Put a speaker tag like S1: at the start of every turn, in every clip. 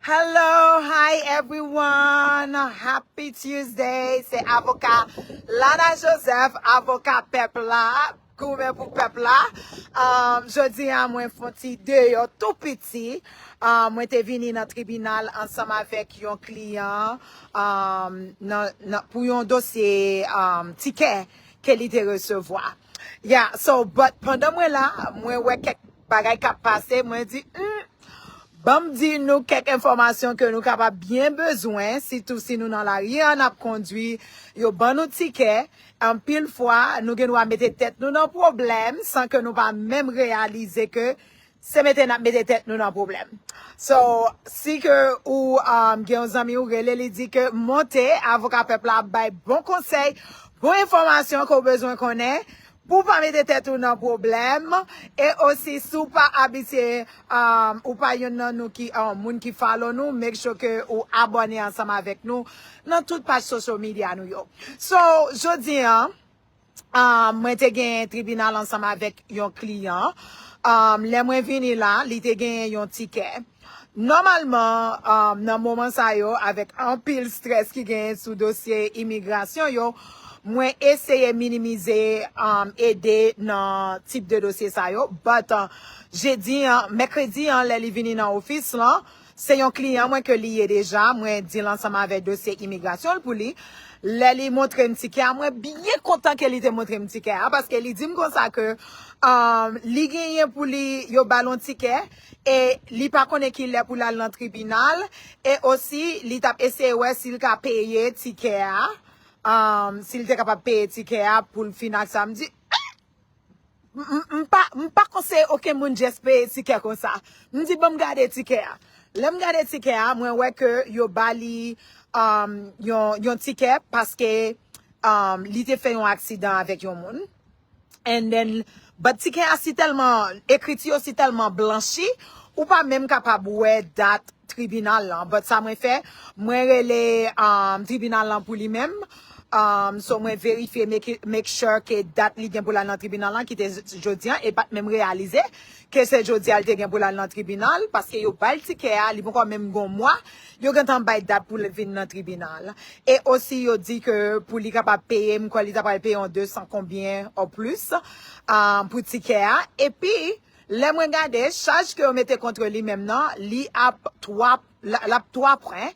S1: Hello, hi everyone. Happy Tuesday. Se avoka Lana Joseph, avoka pèp la, goumen pou pèp la. Um, jodi a mwen fonti deyo tou piti. Um, mwen te vini nan tribunal ansanm avèk yon kliyan um, nan, nan, pou yon dosye um, tikè ke li te resevwa. Yeah, so but pandan mwen la, mwen wè kèk bagay kap pase, mwen di, hmm, banm di nou kèk enfòmasyon ke nou kapab byen bezwen, sitou si nou nan lari an ap kondwi, yo ban nou tikè, anpil fwa nou gen dwa mete tèt nou nan pwoblèm san ke nou pa menm reyalize ke Se mete nap mete tèt nou nan pwoblèm. So, si ke ou gen yon zanmi ou rele li di ke monte avoka pèp la ap bay bon konsèy, bon enfòmasyon ke ou bezwen konnen pou ou pa mete tèt ou nan pwoblèm e osi si ou pa abitye ou pa yonn nan nou ki moun ki follow nou make sure ke ou abòne ansanm avèk nou nan tout paj social media nou yo. So, jodi an. mwen te genyen tribinal ansanm avèk yon kliyan. Lè mwen vini la, li te genyen yon tikè. Nòmalman, nan moman sa yo, avèk anpil strès ki genyen sou dosye imigrasyon yo, mwen eseye minimize ede nan tip de dosye sa yo. But, jedi an, mèkredi an, lè li vini nan ofis lan, Se yon kliyan mwen ke li ye deja, mwen di l ansanm avè dosye imigrasyon l pou li. Lè li montre m tikè a, mwen byen kontan ke li te montre m tikè a, paske li di m konsa ke li genyen pou li, yo ba l yon tikè, e li pa konnen ki lè pou l al nan tribinal, e osi li t ap eseye wè si l ka peye tikè a, si l te kapab peye tikè a pou l fin ak sa. M di, eh! M pa m pa konseye oken moun just peye tikè konsa. M di banm gade tikè a. Lè m gade tikè a, mwen wè ke yo ba li um, yon, yon tikè paske um, li te fè yon aksidan avèk yon moun. And then, but tikè a si tèlman, ekriti yo si tèlman blanchi, ou pa menm kapab wè dat tribinal lan. But sa mwen fè, mwen rele um, tribinal lan pou li menm. Umm so mwen verifye make sure ke dat li gen pou lal nan tribunal lan ki te jodi an e pat menm reyalize ke se jodi a li te gen pou lal nan tribunal paske yo bal tikè a li poko menm gon mwa yo gentan bay dat pou li vin nan tribunal e osi yo di ke pou li kapab peye m kwè li ta pral peye yon 200 konbyen o plis umm pou tikè a epi lè mwen gade chaj ke yo mete kontre li menm nan li ap 3. Lap 3 pwen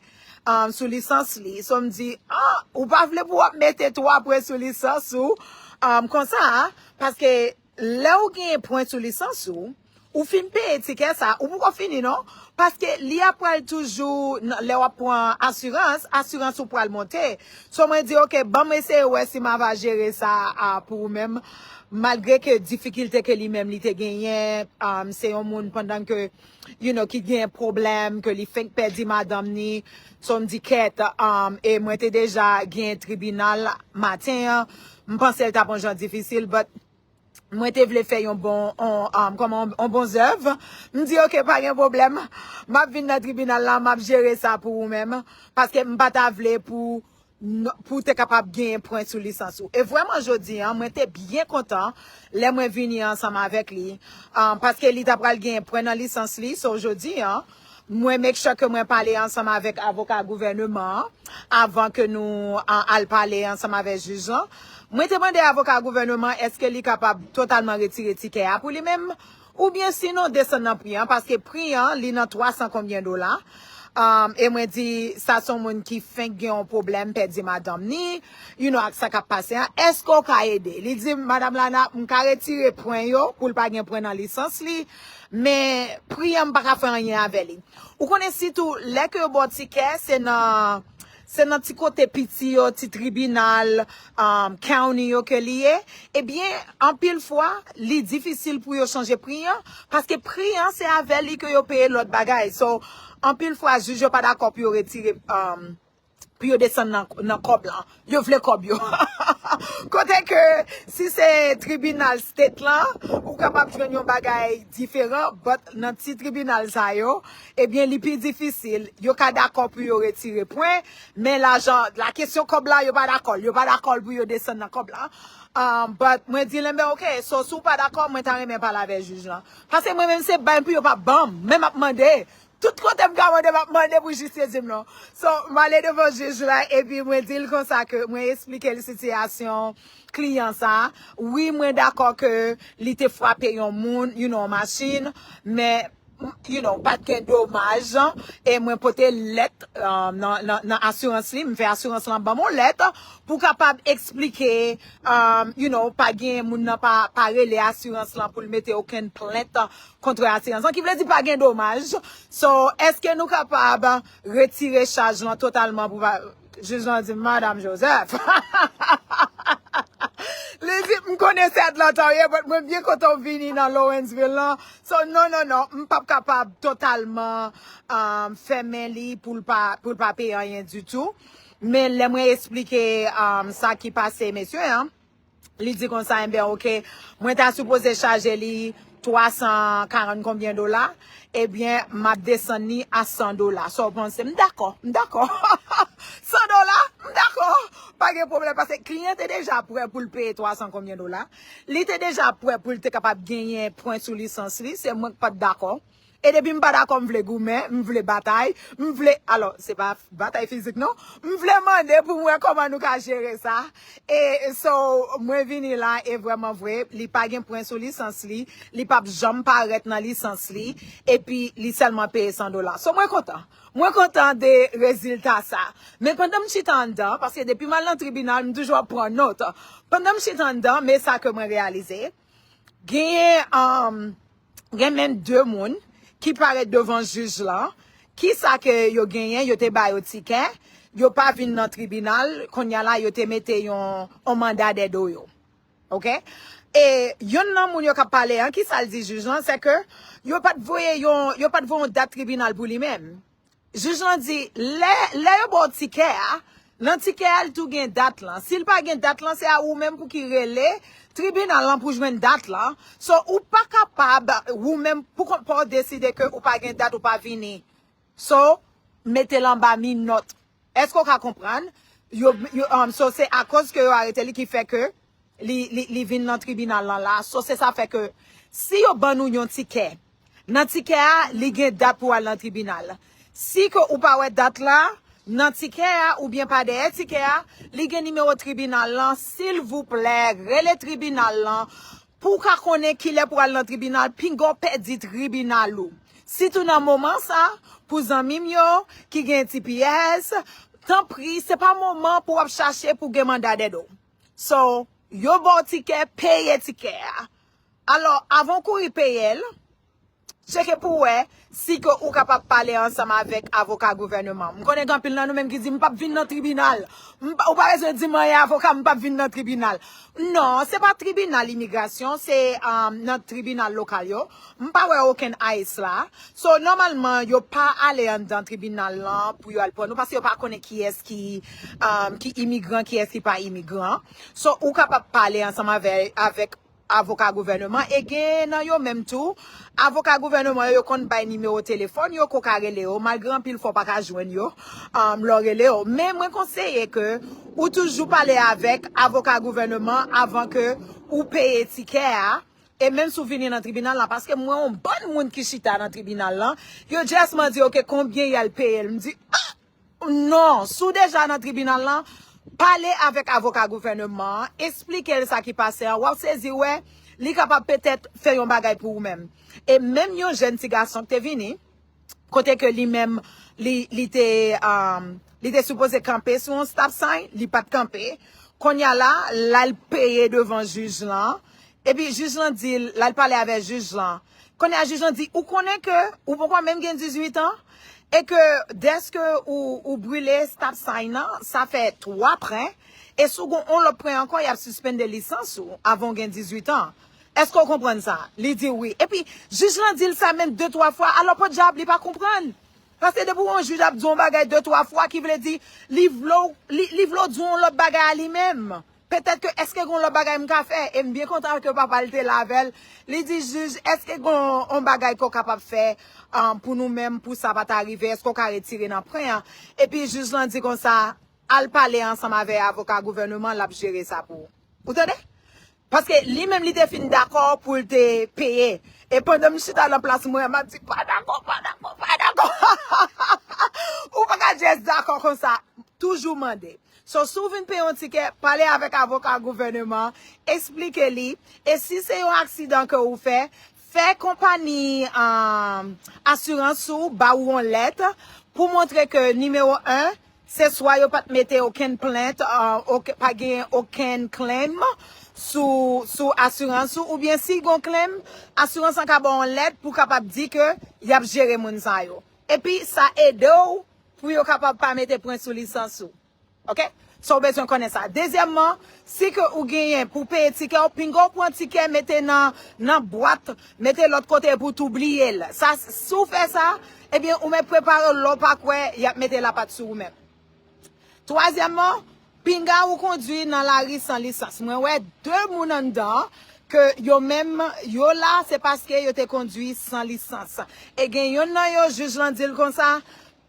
S1: sou lisans li. So m di, ah, ou pa vle pou wap mete 3 pwen sou lisans ou konsa a. Paske lè ou genyen pwen sou lisans ou, ou fin peye tikè sa, ou poko fini non. Paske li ap pral toujou, lè wap pran asirans, asirans ou pral monte. So mwen di, ok, banm eseye wè si ma va jere sa a pou ou menm. Malgre ke difikilte ke li menm li te genyen, se yon moun pandan ke. you know ki gen pwoblèm ke li fenk pèdi madanm ni so m di kèt um e mwen te deja gen tribinal maten an m panse l tap on jan difisil but mwen te vle fè yon bon on um kòman on bon zèv m di ok pa gen pwoblèm map vin nan tribinal la map jere sa pou ou menm paske m pa ta vle pou pou w te kapab genyen pwen sou lisans ou. E vrèman jodi an, mwen te byen kontan lè mwen vini ansanm avèk li, paske li ta pral genyen pwen nan lisans li. So jodi an, mwen make sure ke mwen pale ansanm avèk avoka gouvèneman an, avan ke nou al pale ansanm avèk jij lan. Mwen te mande avoka gouvèneman èske li kapab totalman retire tikè a pou li menm, Ou byen si non desann nan pri an paske pri an li nan 300 konbyen dola um e mwen di sa son moun ki fenk gen yon pwoblèm pèdi madanm ni you no ak sa kap pase an eske ou ka ede li dim madam lana m ka retire pwen yo poul pa gen pwen nan lisans li men pri an m paka fè anyen avè li ou konnen sitou lè ke yo baw tikè se nan Se nan ti kote piti yo, ti tribinal, county yo ke li ye, ebyen anpil fwa li difisil pou yo chanje pri an, paske pri an se avè li ke yo peye lòt bagay. So, anpil fwa jij yo pa dakò pou yo retire, pou yo desann nan kòb lan. Yo vle kòb yo. Kote ke si se tribinal state lan, ou kapab jwenn yon bagay diferan, but nan ti tribinal sa yo, Ebyen li pi difisil, yo ka dakò pou yo retire pwen, men lajan, la kesyon kòb la yo pa dakòl, yo pa dakòl pou yo desann nan kòb la, but mwen di Lembè ok, so si w pa dakò mwen ta renmen pale avè jij lan, pase mwen menm se bay pou yo pa banm, men map mande, tout kote m ka mande map mande pou jij sezi m non, so m ale devan jij la epi mwen di l konsa ke mwen esplike l sitiyasyon kliyan sa, wi mwen dakò ke li te fwape yon moun, you know yon machin, men. you know, pat gen domaj e mwen pote lèt nan asirans li, m fè asirans lan banm on lèt pou kapab eksplike you know, pa gen moun nan pa rele asirans lan pou l mete okenn plent kontre asirans lan, ki vle di pa gen domaj so eske nou kapab retire chaj lan totalman pou va. Jij lan di, Madam Joseph, li di, m konnen se Atlanta ou ye, but mwen byen kontan ou vini nan Lawrenceville lan, so non, non, non, m pap kapab totalman um, fèmen li pou l pa, pou l pa peye anyen ditou. Men lè mwen esplike um, sa ki pase mesye an, Li di konsa, enben ok, mwen ta sipoze chaje li 340 konbyen dola, ebyen m ap desann li a 100 dola. Sa w panse? M dakò, m dakò. 100 dola? M dakò. Pa gen pwoblèm. Pase kliyan te deja prè pou l peye 300 konbyen dola. Li te deja prè pou l te kapab genyen pwen sou lisans li. Se mwen k pa t dakò. E depi m pa dakò m vle goumen, m vle batay, m vle, alò se pa batay fizik non, m vle mande pou m wè kòman nou ka jere sa. E so mwen vini la e vrèman vre li pa gen pwen sou lisans li, li pa p janm parèt nan lisans li epi li sèlman peye 100 dola. So mwen kontan. Mwen kontan de rezilta sa. Men pandan m chita anndan, paske depi m al nan tribinal m toujou ap pran nòt, pandan m chita anndan men sa ke mwen reyalize, genyen. Gen menm 2 moun ki parèt devan jij lan, kisa ke yo genyen, yo te ba yo tikè, yo pa vin nan tribinal, konnya la yo te mete yon on manda dè do yo. Ok? E yonn nan moun yo kap pale an, kisa l di jij lan, se ke yo pat voye yon, yo pat voye yon dat tribinal pou li menm. Jij lan di, lè, lè yo ba w tikè a, nan tikè a li tou gen dat lan. Si li pa gen dat lan, se a ou menm pou ki rele tribinal lan pou jwenn dat lan. So, ou pa kapab ou menm pou kont pa w deside ke ou pa gen dat ou pa vini. So, mete l anba minòt. Èske w ka konprann? Yo, yo, so se akoz ke yo arete li ki fè ke. li vin lan tribinal lan la so se sa fè ke si yo ban nou yon tikè nan tikè a li gen dat pou al nan tribinal si ke ou pa wè dat la nan tikè a ou byen pa dèyè tikè a li gen nimewo tribinal lan silvouplè rele tribinal lan pou w ka konnen kilè pou al nan tribinal pinga w pèdi tribinal ou sitou nan moman sa pou zanmi m yo ki gen tps tanpri se pa moman pou w ap chache pou gen manda dèd ou. So, yo ba w tikè, peye tikè a. Alò, avan w kouri peye l, tcheke pou w wè si ke ou kapab pale ansanm avèk avoka gouvèneman an. M konnen gen anpil nan nou menm ki di, m pap vin nan tribinal. Ou pa bezwen di m anyen avoka, m pap vin nan tribinal. Non, se pa tribinal imigrasyon, se nan tribinal lokal yo. M pa wè okenn ice la. So nòmalman yo pa ale anndan tribinal lan pou yo al pran nou paske yo pa konnen kiyès ki ki imigran kiyès ki pa imigran. So ou kapab pale ansanm avèk avoka gouvèneman e gen nan yo menm tou avoka gouvèneman yo yo konn bay nimewo telefòn yo ke w ka rele yo malgre anpil fwa w pa ka jwenn yo lè w rele yo. Men mwen konseye ke ou toujou pale avèk avoka gouvèneman avan ke ou peye tikè a E menm si w vini nan tribinal la, paske m wè yon bann moun ki chita nan tribinal lan, yo just mande ok konbyen y al peye l. M di ah! Non, si w deja nan tribinal lan, pale avèk avoka gouvèneman an, esplike l sa ki pase an, w ap sezi wè li kapab petèt fè yon bagay pou ou menm. E menm yon jèn ti gason k te vini, kote ke li menm li te li te sipoze kanpe sou yon stop sign li pat kanpe konnya la lal peye devan jij lan epi jij lan dil lal pale avè jij lan konnya jij lan di ou konnen ke ou poko menm gen 18 ans e ke deske ou brile stop sign nan sa fè 3 pren e si w gon yon lòt pren ankò yap sispende lisans ou avan w gen 18 ans Eske w konprann sa? Li di wi. Epi, jij lan di l sa menm de twa fwa, alò podyab li pa konprann. Paske depi yon jij ap di w yon bagay de twa fwa, ki vle di, li vle w, li vle w di w yon lòt bagay a li menm. Petèt ke, eske gen yon lòt bagay m ka fè? E m byen kontan ke papa l te la avè l. Li di, jij, eske gen yon bagay ke w kapab fè pou nou menm, pou sa pa ta rive? Eske w ka retire nan pwen an? Epi, jij lan di konsa, al pale ansanm avè avoka gouvèneman, l ap jere sa pou ou. Ou tande? Paske li menm li te fin dakò pou l te peye. E pandan m chita nan plas mwen an, m ap di, pa dakò, pa dakò, pa dakò. Ou pa ka just dakò konsa. Toujou mande. So, si w vin peye yon tikè, pale avèk avoka gouvèneman an, esplike li. E si se yon aksidan ke ou fè, fè konpani asirans ou ba ou yon lèt pou montre ke nimewo 1, Se swa yo pat mete okenn plent, pa genyen okenn claim sou asirans ou, oubyen si gon claim, asirans lan ka ba w yon lèt pou kapab di ke y ap jere moun sa yo. Epi sa ede w pou yo kapab pa mete pwen sou lisans ou. Ok? So w bezwen konnen sa. Dezyèmman, si ke ou genyen pou w peye tikè w, pinga w pran tikè mete nan bwat Mete lòt kote pou tou bliyel. Sa si w fè sa, ebyen ou mèt prepare w lè w pa kwè y ap mete lapat sou ou menm. Twazyèmman, pinga ou kondwi nan lari san lisans. Mwen wè 2 moun anndan an ke yo menm yo la se paske yo te kondwi san lisans. E gen yonn nan yo jij lan di l konsa,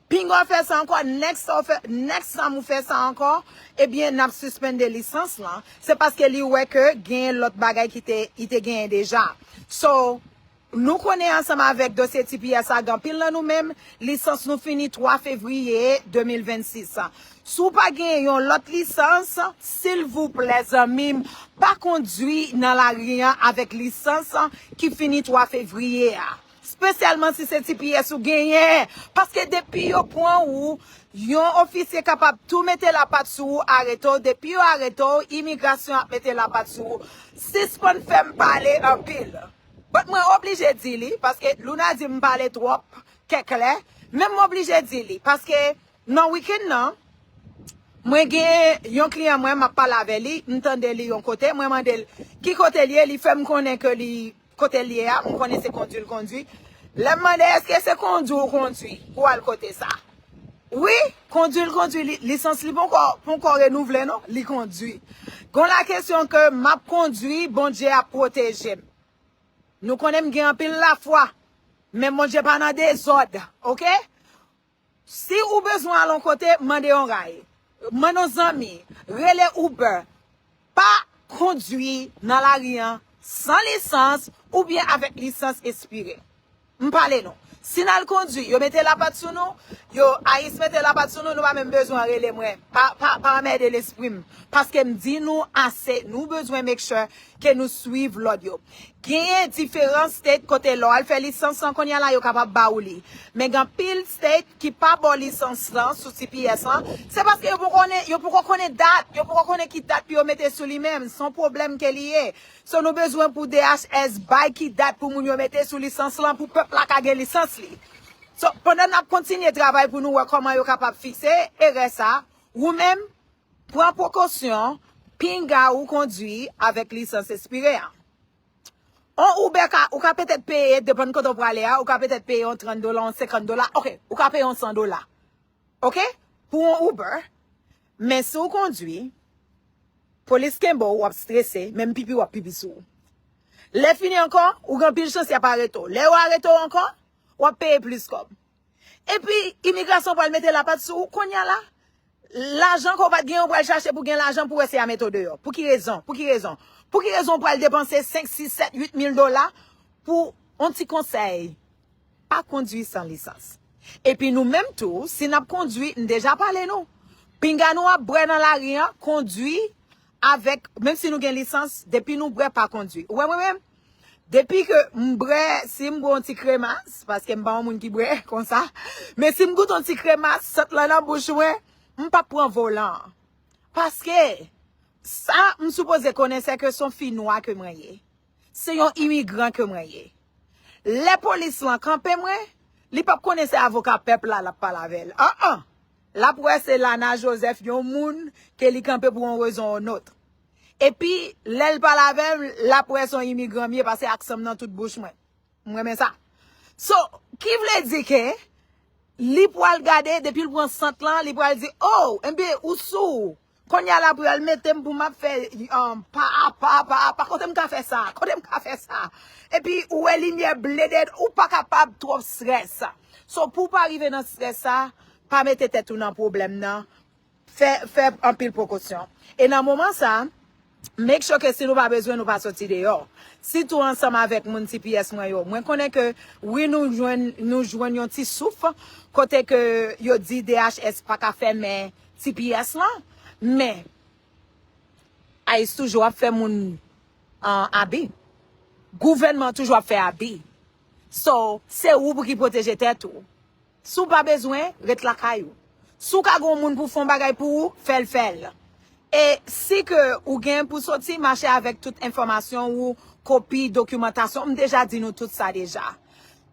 S1: Pinga w fè sa ankò, next sa w fè, next time ou fè sa ankò, ebyen nap suspende lisans lan, se paske li wè ke genyen lòt bagay ki te, li te genyen deja. So, nou konnen ansanm avèk dosye tps la gen anpil nan nou menm, lisans nou fini 3 fevriye 2026. Si w pa genyen yon lòt lisans, silvouplè zanmi m, pa kondwi nan lari an avèk lisans ki fini 3 fevriye a. Spesyalman si se tps ou genyen. Paske depi yo pran ou, yon ofisye kapab tou mete lapat sou ou, arete w. Depi yo arete w, imigrasyon ap mete lapat sou ou. Sispann fè m pale anpil. But mwen oblije di li, paske Luna di m m pale twòp kèk lè. Men m oblije di li. Paske nan weekend nan, mwen gen yon kliyan mwen, m ap pale avè li, m tande li yon kote, mwen mande l ki kote li ye, li fè m konnen ke li Kote l ye a, m konnen se kondwi l kondwi. Lè m mande èske se kondwi w kondwi pou w al kote sa? Wi, kondwi l kondwi. Lisans li ponkò renouvle non, li kondwi. Gon lakesyon ke m ap kondwi, Bondye ap pwoteje m. Nou konnen m gen anpil lafwa, men Bondye pa nan dezòd, oke. Si ou bezwen al on kote, mande yon ray. Mande yon zanmi. Rele Uber. Pa kondwi nan lari an san lisans oubyen avèk lisans espire. M pale nou. Si n al kondwi, yo mete lapat sou nou, yo, ice mete lapat sou nou, nou pa menm bezwen rele mwen. Pa anmède lespri m. Paske m di nou ase, nou bezwen make sure ke nou swiv lòd yo. Genyen diferan state kote lè w al fè lisans lan kounye a la yo kapab ba ou li. Men gen anpil state ki pa ba w lisans lan sou tps lan, se paske yo poko konnen, yo poko konnen dat, yo poko konnen ki dat pou yo mete sou li menm. Se yon pwoblèm ke li ye. So nou bezwen pou DHS bay ki dat pou moun yo mete sou lisans lan pou pèp la ka gen lisans li. So pandan n ap kontinye travay pou nou wè kòman yo kapab fikse erè sa, ou menm, Pran prekosyon, pinga ou kondwi avèk lisans espire a. On Uber ka, ou ka petèt peye, depann kote w prale a, ou ka petèt peye on 30 dola, on 50 dola, ok, ou ka peye on 100 dola, ok, pou on Uber, men si w kondwi, polis kenbe w, w ap strese, menm pipi w ap pipi sou ou. Lè fini ankò, ou gen anpil chans y ap arete w. Lè yo arete w ankò, w ap peye plis kòb. Epi imigrasyon pral mete lapat sou ou konya la. Lajan ke w pat gen yo pral chache pou gen lajan pou wè si ya mete w deyò. Pou ki rezon? Pou ki rezon? Pou ki rezon w pral depanse 5, 6, 7, 8 mil dola pou yon ti konsèy? Pa kondwi san lisans. Epi nou menm tou, si n ap kondwi, m deja pale nou. Pinga nou ap bwè nan lari an, kondwi avèk, menm si nou gen lisans, depi nou bwè pa kondwi. Ou wè mwen menm? Depi ke m brè, si m bwè yon ti kremas, paske m pa yon moun ki bwè konsa, men si m goute yon ti kremas sot lan nan bouch mwen, m pap pran volan an. Paske, sa m sipoze konnen se ke se yon fi nwa ke mwen ye. Se yon imigran ke mwen ye. Lè polis lan kanpe mwen, li pap konnen se avoka pèp la l ap pale avè l. An an! L ap wè se Lana Joseph, yon moun ke li kanpe pou yon rezon ou notr. Epi lèl pale avèm lap wè son imigran m ye pase aksanm nan tout bouch mwen. M renmen sa. So, ki vle di ke li pwal gade depil pran sant lan li pwal di oh enbe ou sou konnya la pwal metem pou map fè yon pa a pa pa a pa kotem ka fè sa kotem ka fè sa epi ou wè limyè ble dèyè ou pa kapab twòp strès. So pou pa rive nan strès sa pa mete tèt ou nan pwoblèm nan. Fè fè anpil prekosyon. E nan moman sa, make sure ke si nou pa bezwen nou pa soti deyò. Sitou ansanm avèk moun tps mwen yo. Mwen konnen ke wi nou jwenn nou jwenn yon ti souf kote ke yo di DHS pa ka fèmen tps lan. Men ice toujou ap fè moun abi. Gouvènman toujou ap fè abi. So, se ou pou ki pwoteje tèt ou. Si w pa bezwen, ret lakay ou. Si w ka gen yon moun pou fè yon bagay pou ou, fè l fè l. E si ke ou gen pou soti, mache avèk tout enfòmasyon ou, kopi, dokimantasyon, m deja di nou tout sa deja.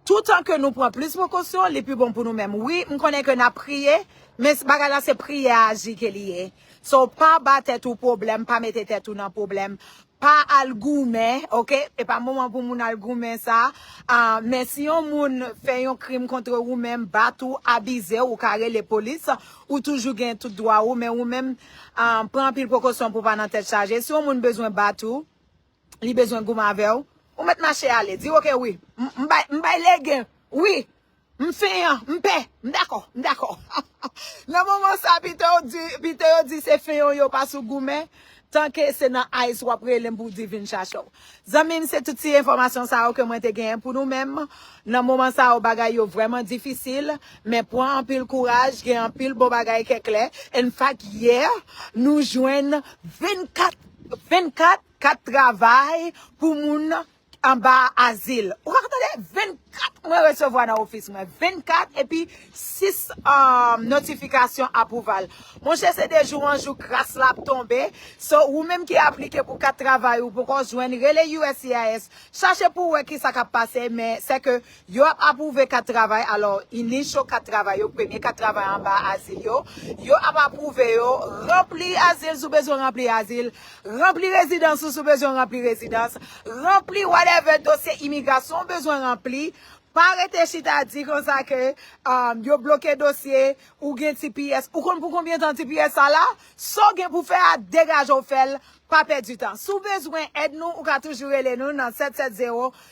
S1: Toutan ke nou pran plis prekosyon, li pi bon pou nou menm. Wi, m konnen ke n ap priye, men bagay la se priyè aji ke li ye. So, pa ba tèt ou pwoblèm, pa mete tèt ou nan pwoblèm. Pa al goumen ok e pa moman pou moun al goumen sa a men si yon moun fè yon krim kontre ou menm bat ou abizew ou ka rele polis ou toujou gen tout dwa ou men ou menm pran anpil prekosyon pou pa nan tèt chaje si yon moun bezwen bat ou li bezwen goumen avèw ou mèt mache ale di ok wi m bay legen wi. M feian, m pè, m dakò, m dakò. Nan moman sa pito yo di, pito yo di se feion yo pa sou goumen, tanke se nan ice wap relem pou w di vin chache w. Zanmi m se tout ti enfòmasyon sa yo ke mwen te genyen pou nou menm. Nan moman sa yo bagay yo vrèman difisil, men pwan anpil kouraj, gen anpil bon bagay kè klè. In fact yè nou jwenn 24, 24 kat travay pou moun Anba azil. Ou pa tande 24 mwen resevwa nan ofis mwen. 24 epi 6 notifikasyon apwouval. Monchè se de jou an jou gras la ap tonbe. So ou menm ki aplike pou kat travay ou poko jwenn rele uscis chache pou wè kisa kap pase men sèke Yo ap apwouve kat travay, alò, inisyo kat travay yo, premye kat travay anba azil yo, yo ap apwouve yo, ranpli azil si w bezwen ranpli azil, ranpli rezidans ou si w bezwen ranpli rezidans, ranpli whatever dosye imigrasyon ou bezwen ranpli, pa rete chita di konsa ke yo bloke dosye, ou gen tps, ou konn pou konbyen tan tps sa la? Sa w gen pou w fè a, degaje w fè l, pa pèdi tan. Si w bezwen èd nou, ou ka toujou rele nou nan 770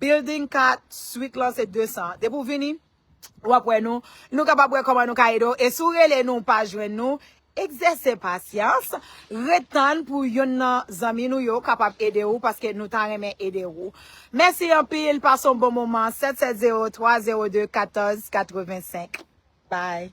S1: Building 4, suite lan se 200. Depi w vini, w ap wè nou. Nou kapab wè kòman nou ka ede w. E si w rele nou, w pa jwenn nou, egzèse pasyans. Ret tann pou yonn nan zanmi nou yo kapab ede w, paske nou ta renmen ede ou. Mèsi anpil, pase yon bon moman. 770 302 14 85. Bye!